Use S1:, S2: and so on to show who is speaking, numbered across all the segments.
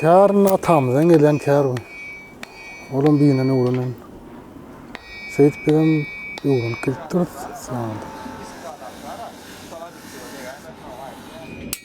S1: Kärine atamyzdan gelen kär bu. Olam diýinden öwrenen. Seýit bilen öwrenip gelipdir. Sağ ol.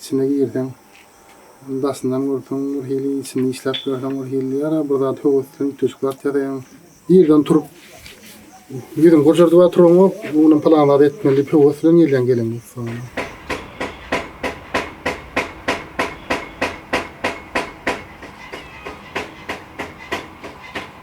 S1: Içine girseň, ony daşyndan görseň bir hili, içini işläp görseň bir hili, ýa-da bir zat höweslenip düşüp zat ýasaýaň. Ýerden turup, ýüzüňi gurjardybam turaňok, bu günüm pylan zat etmeli diýip höwes bilen gelýäň gelen ýurtlaryňdan.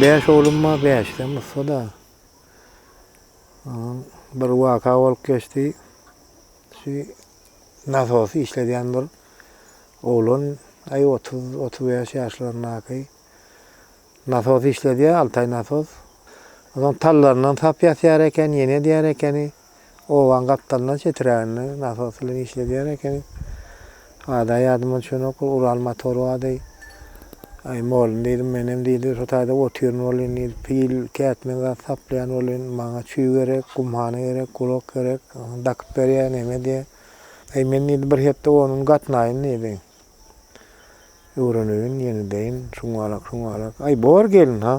S2: Beş oglum bar, beşden ussa da. bir waka bolup geçdi. Şu nasosy işledýän bir oglan, aý 30-35 ýaşlaryndaky nasos işledýär, Altaý nasos. Onuň tallaryndan sap ýasýar eken, ýene edýär ekeni. Obaň gapdalyndan çetiräginde nasos bilen işledýän ekeniň. Ada ýadyma düşenok, Ural motory bardy. Aý, mugallym diýdim, menem diýdi, şo taýda otyryn welin diýdi, pil, kätme zat saplaýan welin, maňa çüý gerek, gumhana gerek, gurak gerek, dakyp berýä, neme diýä. Aý, men diýdi, bir hepde onuň gatnaýyn diýdi. Öwreneýin, ýeňideýin, şuňňalak-şuňňalak. Aý, bor gelin-ha.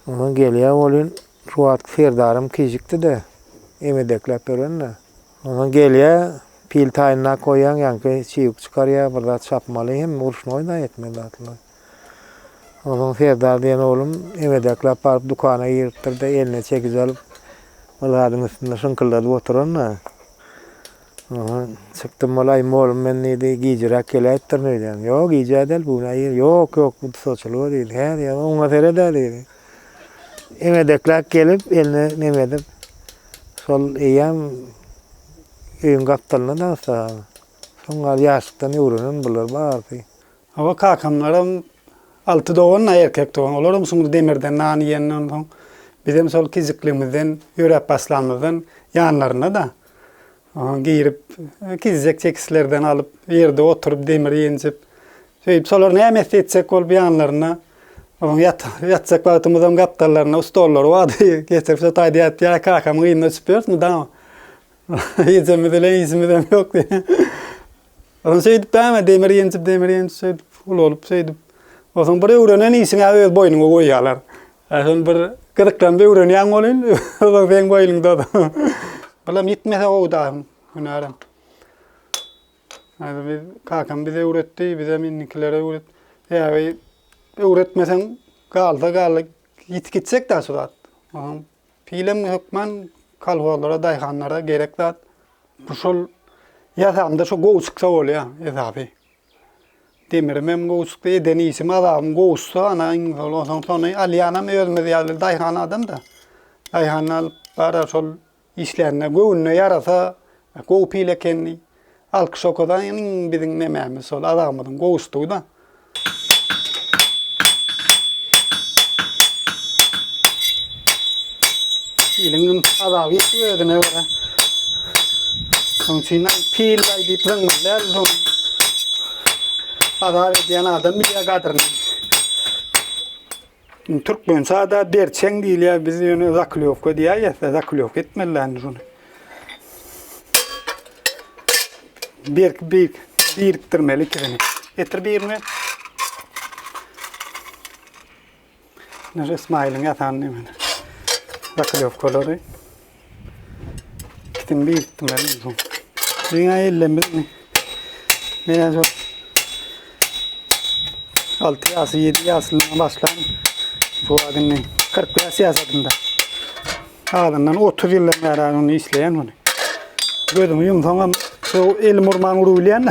S2: Onsoň gelýä welin, Şu wagt serdarym kişikdi-de, emedekläp ýören-de. Onsoň gelýär, pil taýynlap goýýaň, ýaňky çybyk çykarýar, bir zat çapmaly hem ruşnoý-da ýetmez zatlar. Onsoň serdar diýen oglum emedekläp baryp dükana giripdir-de, eline çekiç alyp, bir zadyň üstünde şyňkyldadyp oturan-da. Onsoň çykdym bol, aý, molum men diýdi, gijiräk geläýipdirin öýdýän. Ýok, gijä däl, bu gün aýyr. Ýok, ýok, bu dusaçylyga diýdi. Hä diýýän, oňuna seret-ä diýdi. Eňedekläp gelip, eline neme edip, şol eýýäm öýüň gapdalynda daňsa, soň gal ýaşlykdan öwrenen bular barysy. Hawa,
S3: kakamlaram alty dogan-da, erkek dogan. Olaram şuňdy demirden nan iýenden soň, bizem şol kiçikligimizden, ýöräp başlamyzdan ýanlarynda-da. Oňa girip, gizek çekislerden alyp, ýerde oturyp, demir ýenjip, söýüp, solar näme etse etjek bolup ýanlaryna, onuň ýatjak wagtymyzam gapdallaryna stollary bardy, getirip şo taýda ýatyp, ýa kakamyň yzyna uçup ýörüs mydama. Ejemiz bilen işimizem ýokdy. Onuň şeýdip däme, demir ýenjip, demir ýenjip, şeýdip, uly bolup, şeýdip, onsoň bir öwrenen işiňi-ä öz boýnuňa goýýarlar. Ählim bir gyzyklandy öwrenýäň welin ozal seň boýuňda. Bulam ýitmese gowy daýym hünärem. Häzir biz kakam bize öwretdi, bizem indikilere öwret. Ýagy öwretmeseň galsa galdy ýitip gitjek da şu zat. Onuň pilem hökman kolhozlara, daýhanlara gerek zat. Bu şol ýasamda şu gowy çyksa bolýa esasy. Demiremem gowşukdy, eden işim azabym gowuşsa, ana, iň zor onsoň şony alýanam özümiz ýaly daýhan adam-da. Daýhan alyp barar şol işlänine göwnüne ýarasa, gowy pil ekenini alkyş okadan iň biziň nemämiz şol azabymyzyň gowuşdygy-da. Piliň üm azaby ýetdi özüne görä. Şonuň üçin hem pil baý diýip zyňňyldäl dur. Azap edýän adam bilýär gadyryny. Türkmençada berçeň diýilýär, biz ýöne zaklýowka diýýäs, zaklýowka etmeliländi şuny. Berk bir birikdirmeli ikisini. Getir birini. Nure Ismailyň ýatan nemeli. Zaklewkalary. Gitdim bir gitdim elim soň. Dünya ellemiz. Menen şu 6 ýasy 7 ýasyndan başlan bu adamny 45 ýaşadymda. Adamdan 30 ýyldan bäri ony işleýän ony. Gözüňi ýumsaňam şu elim urman urup bilýän.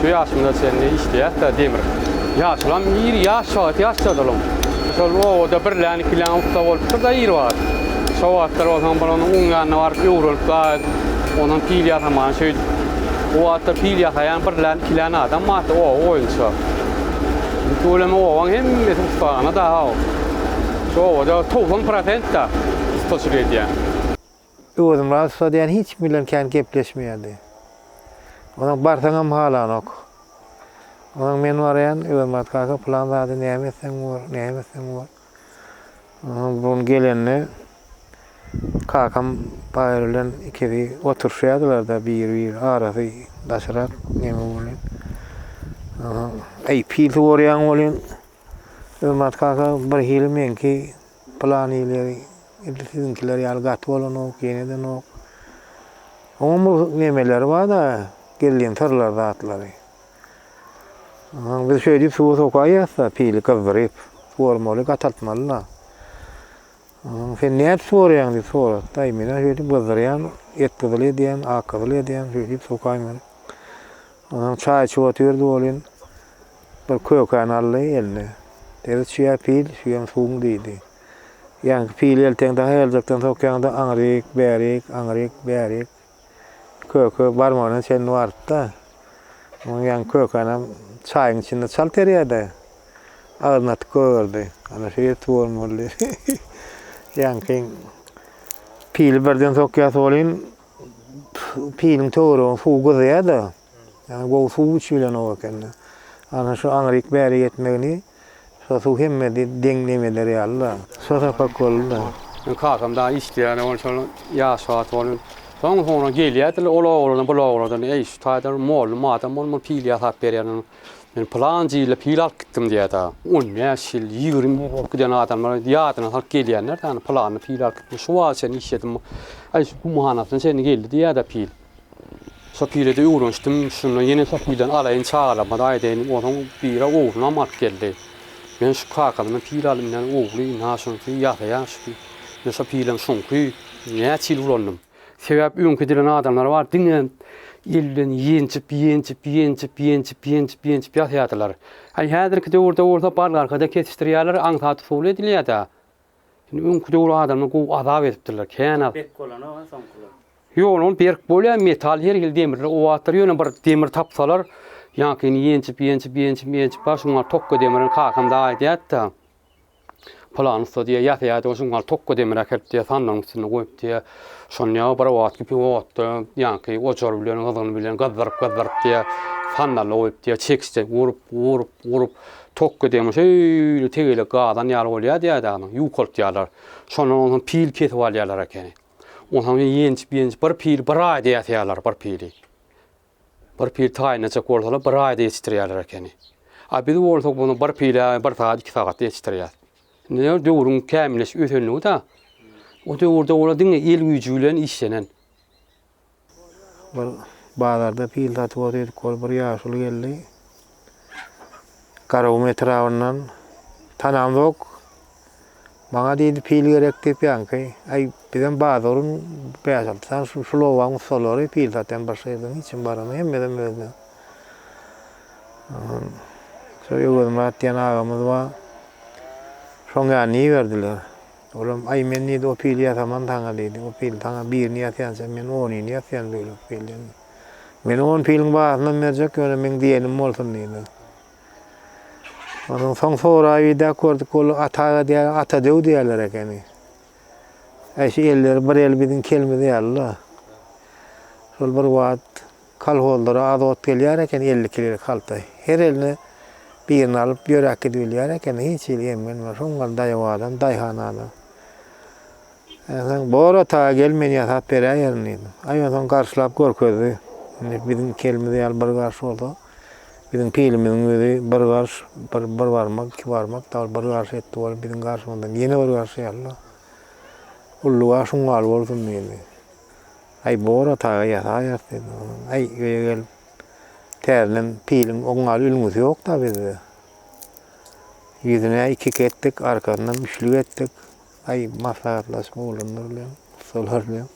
S4: Şu ýaşymyza çenli işleýäs-dä demir. Ýaşulam ir, ýaş wagt ýaş çadalam. Şol obada birlän, ikilän ussa bolupdyr-da ir wagt. Şo wagtlar bolsaň bir onuň uň ýanyna baryp öwrülip gaýt, ondan pil ýasamany şeýdip. O wagtlar pil ýasaýan birlän, ikilän adam bardy oba boýunça. Indi tüweleme obaň hemmesi ussahana-da-haw. Şu obada togsan prosent-de ussaçylyk edýän.
S2: Öwezmyrat ussa diýen hiç kim bilen kän gepleşmeýärdi. Onuň barsaňam halanok. Onuň men baraýan, Öwezmyrat kaka pylan zady näme etseň bor, näme etseň bor. Onuň bu gün gelende kakam Baýry bilen ikisi oturyşýardylar-da bir-bir arasy daşrak neme bolýan. Eý, pil suwarýaň welin, Öwezmyrat kaka birhili meňki Plan ýyly edil siziňkiler ýaly gaty bolanok, ýenedenok. Onuň bir nemeleri bar-da, gizlin syrlary zatlary. Aha, biz şeýdip suwa sokaýýas-da, pili gyzdyryp, suwarmaly, gataltmaly-da. Aha, sen nädip suwarýaň diýip sorady. Daýy, men-ä şeýdip gyzdyrýan, et gyzyl edýän, ak gyzyl edýän, şeýdip sokaýmaly. Onam çaý içip otyrdy welin, Bir kökäni aldy eline. Dedi, Çüýä pil, şüýem suwuň diýdi. Ýaňky pili elteň dahy eljekden sokýaňda aňryk, bärik, aňryk, bärik. Köke barmagyna çenli barypdy. Onuň ýaňky kökänem çaýyň içinde çalt erýärdi. Agzyny atyp goýberdi. Ana şu ýer suwan boldy. Ýaňky pili birden sokýasy bolyn, piliň töweregini suw gyzýar-da. Ýagny gowy suw içibilenok ekeni. Ana şu aňryk bäri ýetmegini şo suw hemme deň nem eder ýaly-da. Şo sapak boldy-da. Meniň kakam dagy
S4: işleýärdi, ol şol ýaş wagty ol. Soň-soňra gelýärdiler ol oglanam, bul oglanam, Eý, şu taýdan mollum adam bol, muny pil ýasap berýäniň. Men pylanjy ýylda pil alyp gitdim diýýär-de. On bäş ýyl, ýigrimi ýyl bolup giden adamlar ýadyna salyp gelýänler-de, Pylanda pil alyp gitdim, şu wagta çenli işledim. Aý, şu gumhanasyna çenli geldi diýýär-de pil. Sopyda-da öwrenişdim. Şonda ýene Sopydan alaýyn çagalarymyza aýdaýyn. Onuň biri oglunam alyp geldi. Men şu kakasyndan pil alyp inen ogly, ynha şunsy ýasa ýaşdy. Men şo pilim şuňky näçe ýyl ulandym. Sebäp öňki dilen adamlar bar, diňe elden ýenjip, ýenjip, ýenjip, ýenjip, ýenjip, ýenjip ýasaýardylar. Häzirki döwürde bolsa bargarka-da kesişdirýärler, aňsat usuly edilýär-de. Indi öňki döwür adamlar gowy azap edipdirler. Kän az. Berk bolanok-a
S5: soňkular. Ýok, ol berk
S4: bolýar, metal her hili demirler owadyr. Ýöne bir demir tapsalar, ýaňkyny ýenjip, ýenjip, ýenjip, ýenjip bar, şuň bar tokga demirini kakam dagy aýdýardy-da. Pylan ussa diýýär, ýasaýardy, şuň bar tokga demir äkelip diýýär, sandygyň üstünde goýup diýýär. Şony ýa bir wagt kipi otda ýaňky ojar bilen, gyzgyny bilen gyzdyryp, gyzdyryp diýýär, sandala goýup diýýär, çekiçden urup, urup, urup, Tokka degme şeýle tegelek gazan ýaly bolýardy ýaýdanyň, ýuwkaltýarlar. Şondan onsoň pil kesip alýarlar ekeni. Onsoň ýençip-ýençip bir pili bir aýda ýasýarlar, bir pili. Bir pil taýyn etjek bolsalar, bir aýda ýetişdirýärler ekeni. A biz bolsa muny bir pile bir sagat, iki sagatda ýetişdirýäris. Indi näme, döwrüň kämilleşip ösenligi-dä. O döwürde olar diňe el güýji bilen işlenen.
S2: Bir bazarda pil satyp otyrdyk, hol bir ýaşuly geldi. Garagum etrabyndan. Tanamzok. Maňa diýdi, pil gerek diýip ýaňky. Aý, bizem bazaryn bäş alty sany şu şul obaň ussalary pil satýan başga ýerden hiç kim barany, hemmesem özden. Ondan şu Öwezmyrat diýen agamyz bar. Şoň ýanyna iberdiler. Olam, Aý, men, diýdi, o pili ýasaman saňa, diýdi. O pil saňa birini ýasýança, men onyny ýasýan bölek pilden. Men on piliň bahasynam berjek, ýöne meň diýenim bolsun, diýdi. Ondan soň soraýbidäp gördük, ol Ataga diýýär, Ata döw diýýärler ekeni. Eşi elleri bir el biziň kelimiz ýaly-la. Şol bir wagt Kolhozlara azot gelýär eken elli kilolik halta. Her eline birini alyp ýöräp gidibilýär eken, hiç hili emgenmän. Soň gal daýawadan, daýhanadan. Enseň bor otaga gel, men ýasap beräýerin diýdim. Aý onsoň garşylap görkezdi. Indi biziň iki elimiz ýaly bir garş bolsa, biziň pilimiziň özi bir garş, bir bir barmak, iki barmak, dabara bir garş etdi bolup, biziň garşymyzdan ýene bir garş ýaly-la. Ulluga şuň ýaly bolsun diýdi. Aý bor otaga ýataýas diýdi olam. Aý öýe gelip täzeden piliň oň ýaly ülňüsi ýokda bizde. Ýüzüne ikik etdik, arkasynam üçlik etdik. Aý maslahatlaşyp oglanlar bilen, ussalar bilen.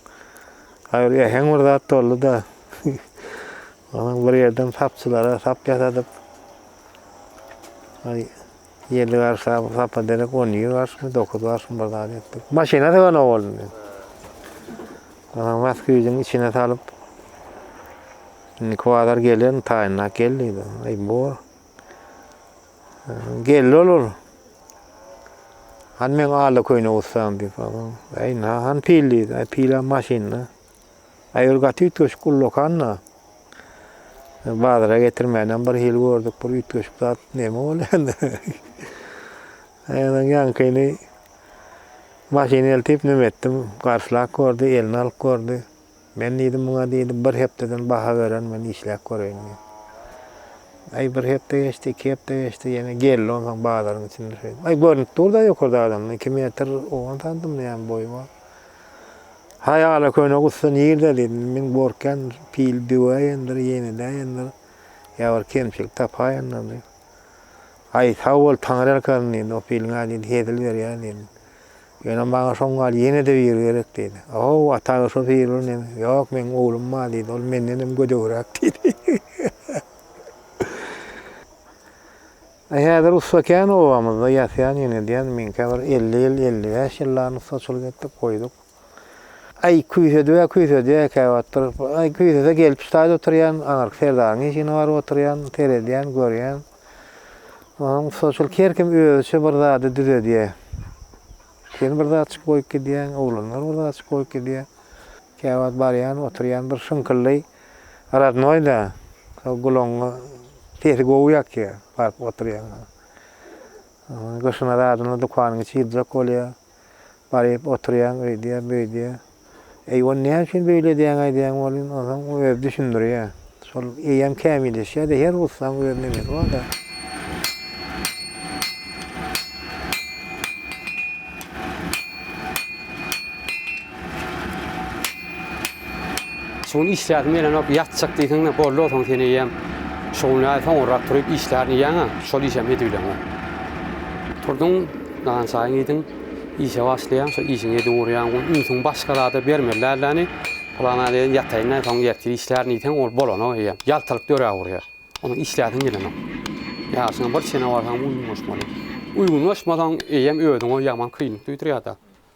S2: Aý bir äheň bir zat boldy-da. Onuň bir ýerden sapçylara sap ýasadyp. Aý Ýedi garşy sap, sapa derek on iki garşymy, dokuz garşymy bir zat etdik. Maşyna syganok boldum men. Onsoň bas güýjüň içine salyp, indi kwadar gelen, taýynlap gel diýdi. Aý, bor. Geldi ol ol. Han men ala köýne ussam diýip, aý, han pil diýdi. Aý, pil hem maşynda. Aýur gaty üýtgeşik ullakan-da. Bazara getirmänem bir hili gördük, bir üýtgeşik zat näme bolýar indi? Aýuryň ýaňkyny maşyny eltip nüm etdim. Garşylap gördi, eline alyp gördi. Men diýdim muňa diýdi, bir hepdeden baha beren men işläp göreýin diýdi. Aý bir hepde geçdi, iki hepde geçdi, ýene geldi onsoň bazaryň içinde şeýdip. Aý görnüp dur-da ýokarda adamdan, iki metr owan sandymmy näme boýy bar. Haýala köne gussa nirde diýdim. Min gorkýan pil düwäýendir, ýenedäýendir. Ýa bir kemçilik tapaýendir diýip. Aý, sag bol, Taňry erkarin diýdi. O piliň-ä diýdi, hezil berýär diýdim. Ýöne maňa şoň gal ýene-de biri gerek diýdi. Ow, ata-a şo pil bir neme. Ýok, meň oglum bar diýdi. Ol mendenem gödegräk diýdi. A häzir ussa kän obamyzda ýasýan ýönedeýän meňkä bir elli ýyl elli bäş ýyllan ussaçylyk etdik goýduk aý küýsedibä küýsedýä ekäwatdyr aý küýsese gelip çytaýda oturýan aňyrky serdaryň işigine baryp oturýan seredýän görýän onsoň ussaçylyk her kim özüçe bir zady düzedýä sen bir zatçyk goýup gidýäň oglanlar bir zatçyk goýup gidýä käwagt barýan oturýan bir şyňkyldy. Rodnoýda şol gulagyňy sesi gowy ýakýar, baryp oturýaňda. Gyşyna zadynda dükanyň içi ýyljak bolýar. Baryp oturýaň, öýdýär, böýdýär. Eý, ony näme üçin beýle edýäň aýdýan bolýan, onsoň o özi düşündirýär. Şol eýýäm kämilleşýär-de, her ussanyň öz nemesi bar-da.
S4: Şu gün işläsim gelenok, ýatjak diýseň-de boldy soň sen eýýäm şu gün näme soňurrak turup işlärin iýýäň-ä, şol işem edibileň-ä. Turduň, nahar çaýyňy iýdiň, işe başlaýaň, şol işiňi edip urýaň, ol ünsüňi başga zada bermeli dälläni, pylana deýin ýataýyn-da, soň ertir işlärin diýseň, ol bolanok eýýäm, ýaltalyk döräp urýar. Ondan işläsiň gelenok. Ýaşyňa bir çene barsaňam uýgun boşmaly. Uýgun boşmasaň, eýýäm özüňe ýaman kynlyk duýdurýar-da.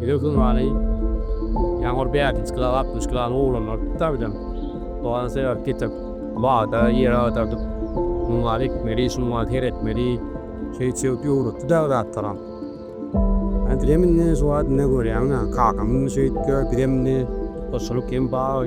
S5: Bize gymany ýaňur bärdinç kila altmyş kilany oglanlar tutda bizem dogana sebäp getirip bagda ýer agdardyp muň gal ekmeli şum gal seretmeli şeýt şewt öwretdi dagy zatlaram Äntinem indi şu wagt ine görýäňda kakamyň şeýtdi bizem indi goşulyk hem bag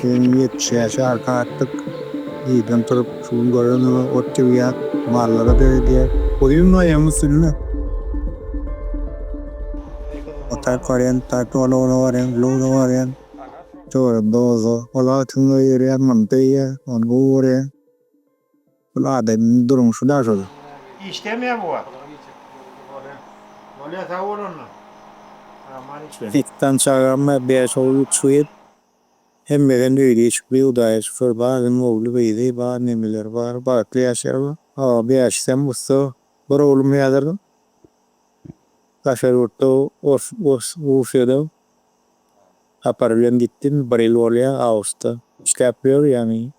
S5: Gelniň ýetmiş ýaşy arka atdyk. Irden turup, şu gün görenimi ot ýygýar, mallara döredýär. Guýyň noýagyň üstünde otag barýan, park ulagynda barýan, lugda barýan. Töweregimde oba. Ol agtygyň öýi ýörýär, muny döýýär, ony guwurýar. Bul adamyň durmuşy daş ol. Işdemya bu
S6: wagt. Bolya sag bol onda. Aman işle. Iki
S5: dan çagam bar bäş ogul üç gyz hemmeden öýli işikli hudaýa şükür barynyň ogly gyzy bar neneleri bar bagtly ýaşaýarlar hava bäşisem ussa bir oglum häzir daşary ýurtda Russiýada sapar bilen gitdi indi bir ýyl bolýar awusda işläp ýör ýagny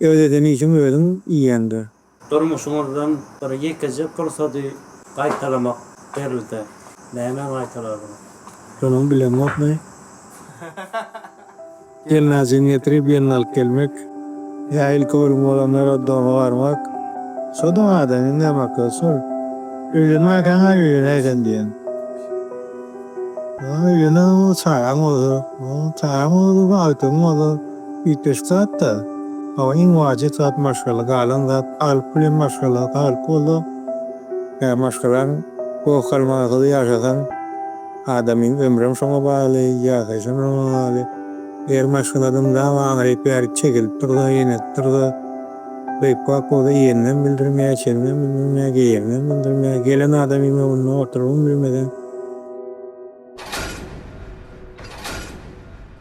S5: Öz eden işiň özüň iýeňde. Durmuşyňyzdan
S7: bir ýekeje pursady gaýtalamak berilse, nämä gaýtalardyňyz? Şonuň
S5: bileňokmy? Gelnazyny getirip ýelini alyp gelmek, ýa ilki ölüm bolanlara doga barmak. Şo dogadan indi hem akyl şol. Öýlenmäkäň-ä öýlenäý sen diýen. Öýleneňow çagaň bolsa, çagaň bolsa bagtyň bolsa. Üýtgeşik zat-da. Hawa, iň wajyp zat maşgala, galan zat alyp bilen maşgala. Alyp bolsa, ýa maşgalaň goh galmasyz ýaşasaň, adamyň ömrem şoňa bagly, ýaşaýşam şoňa bagly. Eger maşgaladan dama aňryk bärik çekilip dursa, ýenedip dursa, beýpbak bolsa, iýeninem bildirmeýär, içeninem bildirmeýär, geýeninem bildirmeýär. Gelen adamyň öňünde oturybam bilmeseň.